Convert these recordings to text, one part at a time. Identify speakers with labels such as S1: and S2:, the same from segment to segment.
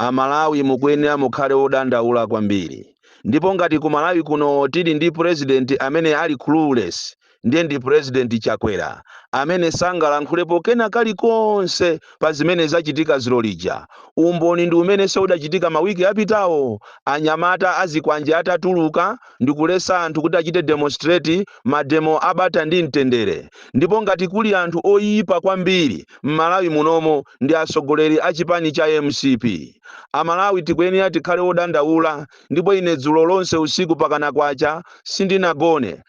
S1: A Malawi mukuyenera mukhale odandaula kwambiri. Ndipo ngati ku Malawi kuno tili ndi president amene ali clueless ndiye ndi president Chakwera amene sangalankhulepo kena kalikonse pa zimene zachitika zulo lija. Umboni ndi umene udachitika ma week apitawo anyamata azikwanje atatuluka. Ndikuletsa anthu kuti achite demonstrate, mademo abata ndi mtendere. Ndipo ngati kuli anthu oipa kwambiri mmalawi munomo ndi atsogoleri a chipani cha mcp. Amalawi tikuyenera tikhale odandaula ndipo ine dzulo lonse usiku pakana kwacha sindinagone.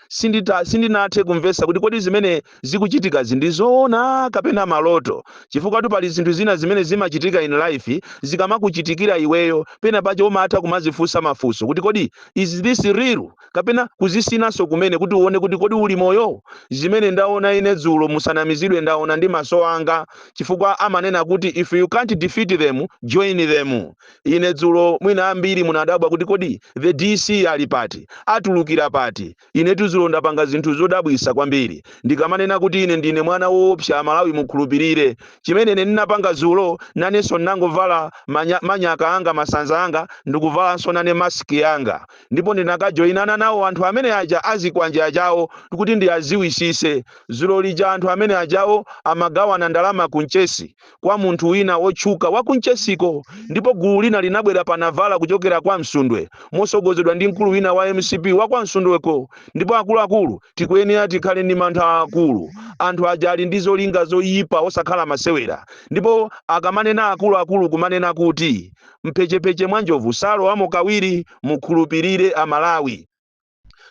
S1: Sindinathe kumvetsa kuti kodi zimene. zikuchitikazi ndi zoona kapena maloto chifukwatu pali zinthu zina zimene zimachitika in life zikamakuchitikira iweyo pena pache umatha kumazifunsa mafunso kuti kodi is this real kapena kuzisinanso kumene kuti uone kuti kodi uli moyo zimene ndaona ine dzulo musanamizidwe ndaona ndi maso anga chifukwa amanena kuti if you can't defeat them join them ine dzulo mwina ambiri munadabwa kuti kodi the dc ali pati atulukira pati Inetu zulo ndapanga zinthu zodabwisa kwambiri. Ndikamanena kuti ine ndine mwana woopsa amalawi mukhulupilire. Chimene ine ndinapanga zulo nanenso ndinangovala manyaka anga masanza anga ndikuvalanso nane mask yanga. Ndipo ndinakajoinana nawo anthu amene aja azikwanje ajawo kuti ndiaziwisise. Zulo lija anthu amene ajawo amagawana ndalama ku mchesi. kwa munthu wina wotchuka wa ku Mchesiko ndipo gulu lina linabwera pa Navara kuchokera kwa Msundwe mosogozedwa ndi mkulu wina wa mcp wa kwa Msundweko ndipo akuluakulu tikuyenera tikhale ndi mantha aakulu anthu aja ali ndi zolinga zoyipa osakhala masewera ndipo akamanena akuluakulu kumanena kuti mphechepeche mwa njovu salowamo kawiri mukhulupirire amalawi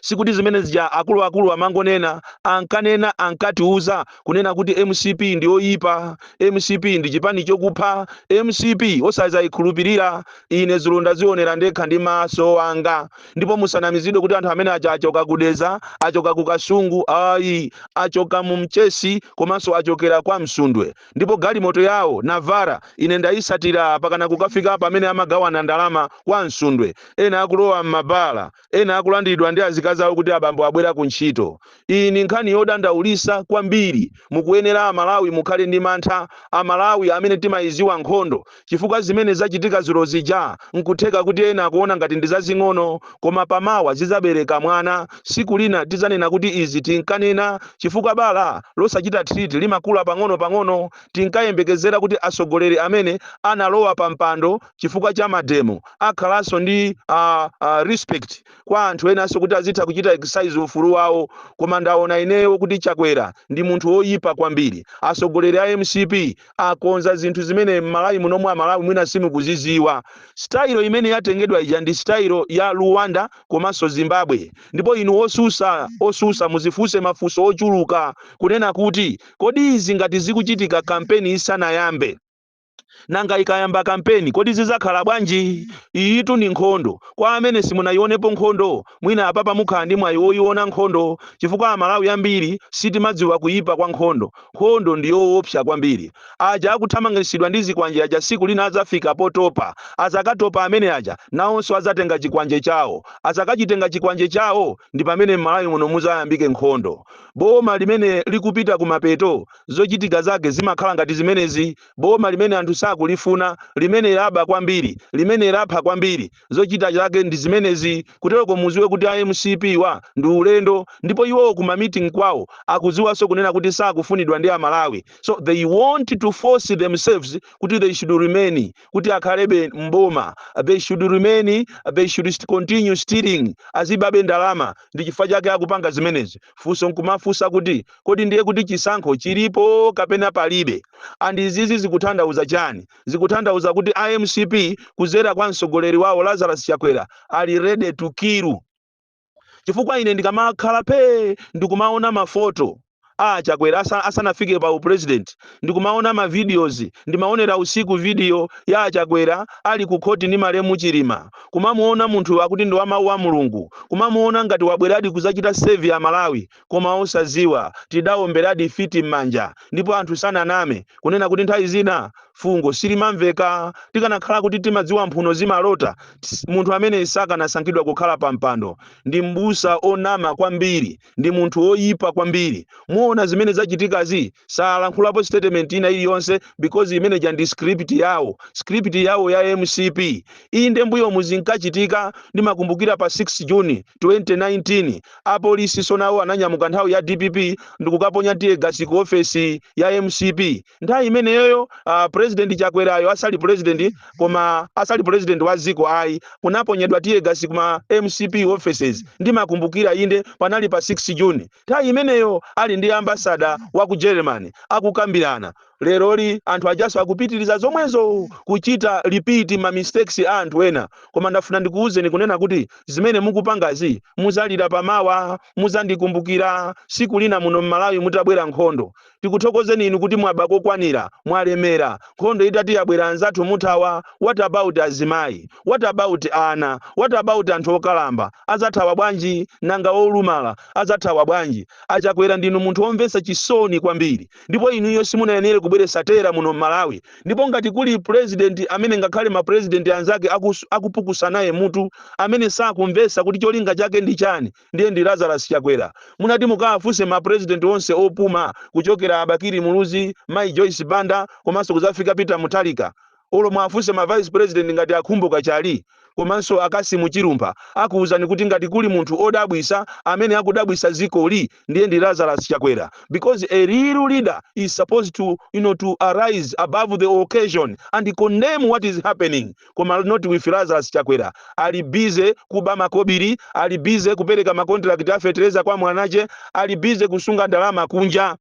S1: sikuti zimene zija akuluakulu amangonena ankanena ankatiuza kunena kuti mcp ndi oyipa mcp ndi chipani chokupha mcp osazayikhulupirira ine zulo ndazionera ndekha ndi maso anga ndipo musanamizidwe kuti anthu amene aja achoka ku Dedza achoka ku kasungu ayi achoka mu mchesi komanso achokera kwa msundwe ndipo galimoto yawo navara ine ndayisatira pakana kukafika pamene amagawana ndalama kwa msundwe ena akulowa m'mabala Ena akulandidwa ndi azikazi awo kuti abambo abwera ku ntchito. Iyi ndi nkhani yodandaulisa kwambiri. Mukuyenera a Malawi mukhale ndi mantha. A Malawi amene timayiziwa nkhondo. Chifukwa zimene zachitika dzulo zija nkutheka kuti ena akuona ngati ndi zazing'ono koma pa mawa zizabereka mwana. Siku lina tizanena kuti izi tinkanena chifukwa bala losachita treat limakula pang'ono pang'ono. Tinkayembekezera kuti atsogoleri amene analowa pa mpando. chifukwa cha mademo akhalanso ndi uh, uh, respect kwa anthu enanso kuti azitha kuchita exercise ufulu wawo koma ndaona ineyo kuti chakwera ndi munthu woyipa kwambiri atsogoleri a mcp akonza zinthu zimene mmalawi munomu amalawi mwina simukuziziwa style imene yatengedwa ija ndi style ya rwanda komanso zimbabwe ndipo inu osusa osusa muzifunse mafunso ochuluka kunena kuti kodi izi ngati zikuchitika kampeni isanayambe Nanga ikayamba kampeni, kodi zidzakhala bwanji? Iyitu ndi nkhondo. Kwa amene simunayionepo nkhondo, mwina apapa mukhala ndi mwayi woiona nkhondo chifukwa Amalawi ambiri sitimadziwa kuipa kwa nkhondo. Nkhondo ndi yoopsa kwambiri. Aja akuthamangitsidwa ndi zikwanje aja tsiku lina adzafika potopa. Adzakatopa amene aja, nawonso adzatenga chikwanje chawo. Adzakachitenga chikwanje chawo, ndi pamene m'Malawi muno mudzayambike nkhondo. Boma limene likupita kumapeto zochitika zake zimakhala ngati zimenezi, boma limene anthu sakulifuna, limene laba kwambiri, limene lapha kwambiri, zochita zake ndi zimenezi, kutereko muziwe kuti a mcp wa ndi ulendo, ndipo iwo ku ma meeting kwawo akuziwaso kunena kuti sakufunidwa ndi a Malawi, so they want to force themselves kuti they should remain, kuti akhalebe m'boma, they should remain, they should continue stealing, azibabe ndalama, ndi chifukwa chake akupanga zimenezi. funso nkumafunsa kuti kodi ndiye kuti chisankho chilipo kapena palibe and izizi zikuthandauza chani zikuthandauza kuti mcp kuzera kwa mtsogoleri wawo lazarus chakwera ali ready to kill chifukwa ine ndikamakhala phe ndikumaona mafoto a chakwera asa- asanafike pa upresident ndikumaona ma videos ndimaonera usiku video ya achakwera ali ku khoti ndi malemu chilima kumamuona munthu akuti ndi wa mawu a mulungu kumamuona ngati wabweradi kuzachita serve amalawi koma osaziwa tidaomberadi fiti m'manja ndipo anthu sananame kunena kuti nthawi zina fungo silimamveka tikanakhala kuti timadziwa mphuno zimalota ts- munthu amene sakanasankhidwa kukhala pa mpando ndi mbusa onama kwambiri ndi munthu woyipa kwambiri muona zimene zachitikazi salankhulapo statement ina iliyonse because imeneja ndi script yawo script yawo ya mcp inde mbuyomu zinkachitika ndimakumbukira pa 6 juni 2019 apolisi so nawo ananyamuka nthawi ya dpp ndikukaponya tiyegasi ku ofesi ya mcp nthawi imeneyoyo uh, president chakwerayo asali president koma asali president wa ziko ayi kunaponyedwa tiyegasi kuma mcp offices ndimakumbukira inde panali pa 6 june nthawi imeneyo ali ndi ambasada wa ku germany akukambirana leroli anthu ajaso akupitiriza zomwezo kuchita repeat ma mistakes a anthu ena koma ndafuna ndikuwuzeni kunena kuti zimene mukupangazi muzalira pamawa muzandikumbukira siku lina muno mmalawi mutabwera nkhondo Tikuthokozeni inu kuti mwaba kokwanira, mwalemera, nkhondo itati yabwera anzathu muthawa, what about azimayi? What about ana? What about anthu okalamba? Azathawa bwanji? Nanga olumala? Azathawa bwanji? A Chakwera ndinu munthu omvetsa chisoni kwambiri ndipo inuyo simunayenere kubweretsa terror muno m'Malawi ndipo ngati kuli president amene ngakhale ma president anzake akupukusanaye mutu amene sakumvetsa kuti cholinga chake ndi chani ndiye ndi Lazarus Chakwera. Munati mukawafunse ma president onse opuma kuchokera a Bakili Muluzi, Mayi Joyce Banda komanso kudzafika Peter Mutharika. Olo muwafunse ma vice president ngati a Khumbo Kachali komanso a Kasimu Chilumpha akuwuzani kuti ngati kuli munthu odabwisa amene akudabwisa dzikoli ndiye ndi Lazarus Chakwera because a real leader is supposed to you know to arise above the occasion and condemn what is happening koma not with Lazarus Chakwera ali busy kuba makobiri ali busy kupereka makontirakiti a fetereza kwa mwanache ali busy kusunga ndalama kunja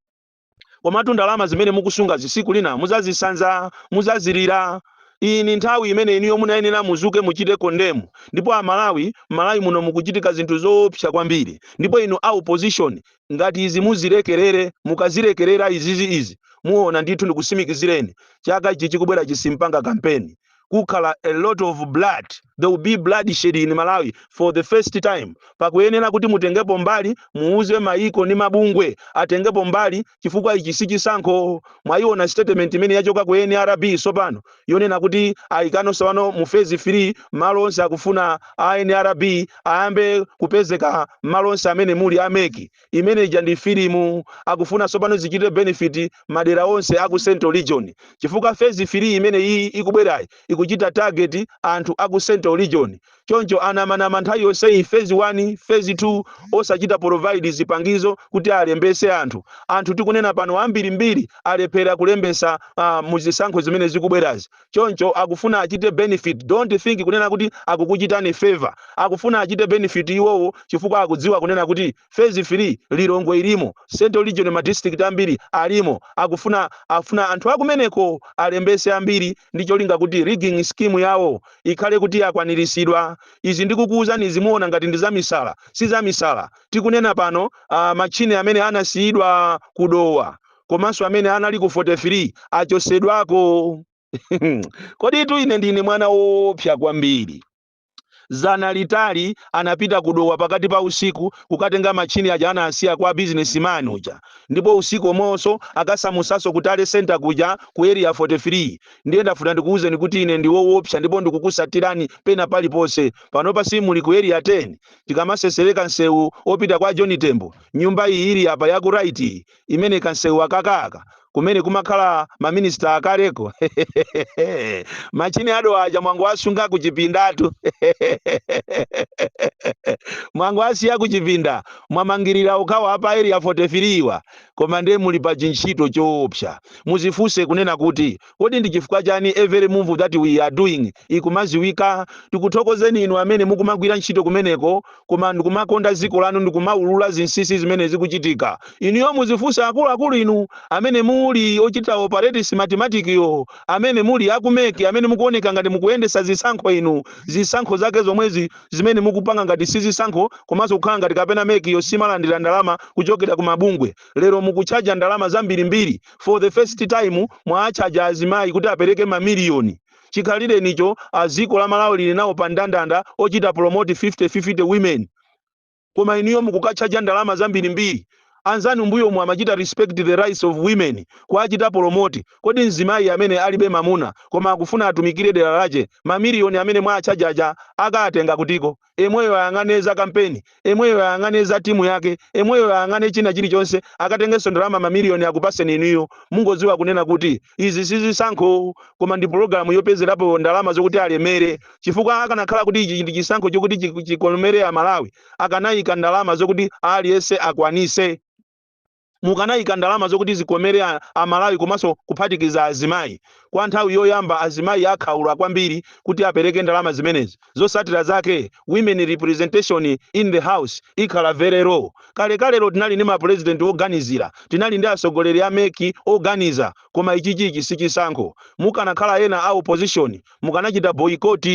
S1: komatu ndalama zimene mukusungazi siku lina muzazisanza muzazilira iyi ni nthawi imene inuyo munayenera muzuke muchite kondemu ndipo amalawi malawi muno mukuchitika zinthu zoopsa kwambiri ndipo inu a opposition Ngati izi muzilekerere, mukazilekerera izizi izi, muwona ndithu ndikusimikizireni, chaka ichi chikubwerachi simpanga kampeni. Kukhala a lot of blood, there will be bloodshed in Malawi for the first time. Pakuyenera kuti mutengepo mbali, muwuze mayiko ndi mabungwe atengepo mbali chifukwa ichi sichisankho. Mwayiwona statement imene yachoka ku nrb tsopano? yonena kuti ayikano sopano mu phase 3 malo onse akufuna a NRB ayambe kupezeka m'malo onse amene muli a MEC imene ija ndi filimu akufuna sopano zichite benefit m'madera onse aku Central Region chifukwa phase 3 imene iyi ikubwerayi ikuchita target anthu aku Central Region choncho anamanama nthawi yonseyi phase 1 phase 2 osachita provide zipangizo kuti alembetse anthu. Anthu tikunena pano ambirimbiri alephera kulembetsa uh, mu zisankho zimene zikubwerazi choncho akufuna achite benefit don't think kunena kuti akukuchitani favor akufuna achite benefit iwowo chifukwa akudziwa kunena kuti phase 3 lilongwe ilimo central region ma district ambiri alimo akufuna afuna anthu akumeneko alembese ambiri ndi cholinga kuti rigging scheme yawo ikhale kuti yakwaniritsidwa izi ndikukuwuzani muziona ngati ndi zamisala si zamisala tikunena pano uh, machine amene anasiyidwa kudowa komanso amene anali ku 43 achosedwako kodi tu ine ndine mwana woopsa kwambiri Zana litali anapita ku Dowa pakati pa usiku kukatenga matchini aja anasiya kwa business man uja ndipo usiku omweonso akasamutsanso ku tally center kuja ku area 43 ndiye ndafuna ndikuuzeni kuti ine ndi woopsa ndipo ndikukusatirani pena paliponse panopa si muli ku area 10 tikamasesereka nsewu opita kwa John Tembo nyumba iyi ili apa ya ku right iyi imene kansewu akakaka kumene kumakhala ma minister akaleko machine ado aja mwangowasunga kuchipindatu mwangowasiya kuchipinda mwamangirira ukawaapa area 43 wa koma ndiye muli pa chintchito choopsa muzifunse kunena kuti Kodi ndi chifukwa chani every move that we are doing ikumaziwika? Tikuthokozeni inu amene mukumagwira ntchito kumeneko koma ndikumakonda dziko lanu ndikumaulula zinsisi zimene zikuchitika. Inuyo muzifunse akuluakulu inu amene muli ochita operate Smartmatic yo, amene muli aku mec, amene mukuoneka ngati mukuyendetsa zisankho inu, zisankho zake zomwezi zimene mukupanga ngati sizisankho komanso kukhala ngati kapena mec yo simalandira ndalama kuchokera ku mabungwe. Lero mukutchaja ndalama zambirimbiri. for the first time mwaatchaja azimayi kuti apereke mamiliyoni chikhalirenicho dziko la malawi lili nawo pa ndandanda ochita promote 50 50 women koma inuyo mukukatchaja ndalama zambirimbiri anzanu mbuyomo amachita respect the rights of women kuachita promote kodi mzimayi amene alibe mamuna koma akufuna atumikire dera lache mamiliyoni amene mwaatchajaja akaatenga kutiko emweyo ayang'ane za kampeni, emweyo ayang'ane za timu yake, emweyo ayang'ane china chilichonse, akatengenso ndalama mamiliyoni akupaseni inuyo, mungoziwa kunena kuti izi sizisankho koma ndi program yopezerapo ndalama zokuti alemere, chifukwa akanakhala kuti ichi ndi chisankho chokuti chikomere a Malawi, akanayika ndalama zokuti aliyense akwanise. mukanayika ndalama zokuti zikomere a Malawi komanso kuphatikiza azimayi. Kwa nthawi yoyamba azimayi akhaula kwambiri kuti apereke ndalama zimenezi. Zosatira zake women representation in the house ikhala very low. Kalekalelo tinali ndi ma president oganizira, tinali ndi atsogoleri a mec oganiza koma ichichichi sichisankho. Mukanakhala ena a opposition mukanachita boycott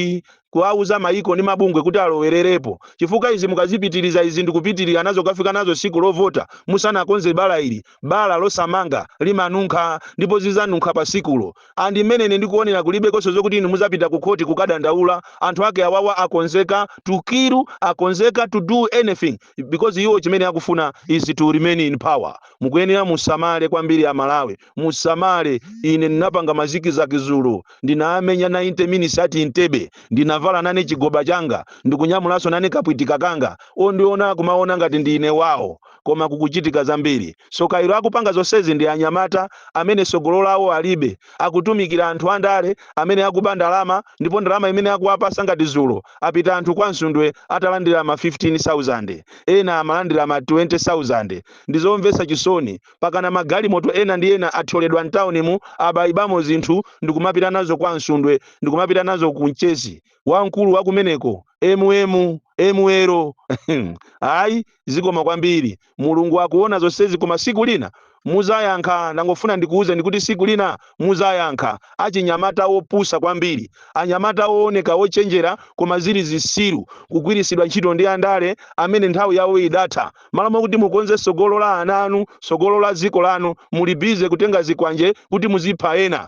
S1: kuwauza maiko ndi mabungwe kuti alowererepo chifukwa izi mukazipitiriza izi ndikupitirira nazo kafika nazo tsiku lovota musanakonze bala ili bala losamanga limanunkha ndipo zizanunkha pa tsikulo and mmene ine ndikuonera kulibekonso zokuti inu muzapita ku khoti kukadandaula anthu ake awawa akonzeka to kill akonzeka to do anything because iwo chimene akufuna is to remain in power mukuyenera musamale kwambiri a malawi Musamale, ine ndinapanga mazikizaki zulo, ndinaamenya 90 minutes at Entebbe, ndinavala nane chigoba changa, ndikunyamulanso nane kapwitika kanga, ondiona kumaona ngati ndiine wawo. Koma kukuchitika zambiri. Tsoka ilo akupanga zonsezi ndi anyamata amene sogolo lawo alibe, akutumikira anthu andale amene akuba ndalama ndipo ndalama imene akuwapasa ngati zulo apita anthu kwa Msundwe atalandira ma 15,000, ena amalandira ma 20,000. Ndizomvetsa chisoni. pakana magalimoto ena ndi ena athyoledwa m'taunimu, abaibamo zinthu ndi kumapita nazo kwa Msundwe ndi kumapita nazo ku Mchesi wamkulu wa kumeneko, MML ayi zikomo kwambiri, Mulungu akuona zonsezi koma tsiku lina mudzayankha, ndangofuna ndikuuzeni kuti tsiku lina mudzayankha achinyamata opusa kwambiri, anyamata ooneka ochenjera koma zili zitsiru kugwiritsidwa ntchito ndi andale amene nthawi yawo idatha. m'malo mwakuti mukonze tsogolo la ana anu tsogolo la dziko lanu muli bize kutenga zikwanje kuti muzipha ena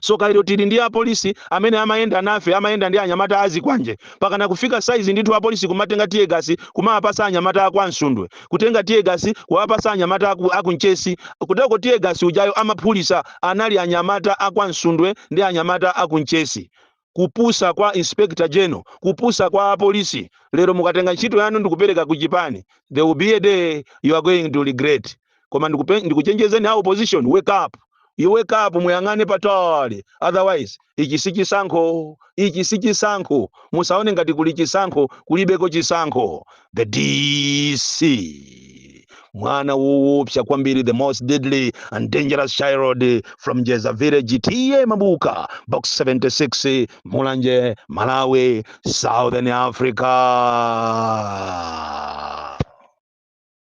S1: soka ilo tili ndi apolisi amene amayenda nafe amayenda ndi anyamata azikwanje pakana kufika saizi ndithu apolisi kumatenga tiyegasi kumawapasa anyamata akwa Msundwe kutenga tiyegasi kuwapasa anyamata aku, aku Mchesi kuteroko tiyegasi ujayo amaphulisa anali anyamata akwa Msundwe ndi anyamata aku Mchesi kupusa kwa inspector general kupusa kwa apolisi lero mukatenga ntchito yanu ndikupereka ku chipani there will be a day you are going to regret koma ndikupe- ndikuchenjezeni a opposition wake up you wake up muyang'ane patali otherwise ichi si chisankho ichi si chisankho musaone ngati kuli chisankho kulibeko chisankho the DC, mwana woopsa kwambiri, the most deadly and dangerous child from Jeza village, TA Mabuka, box 76, Mulanje, Malawi, Southern Africa.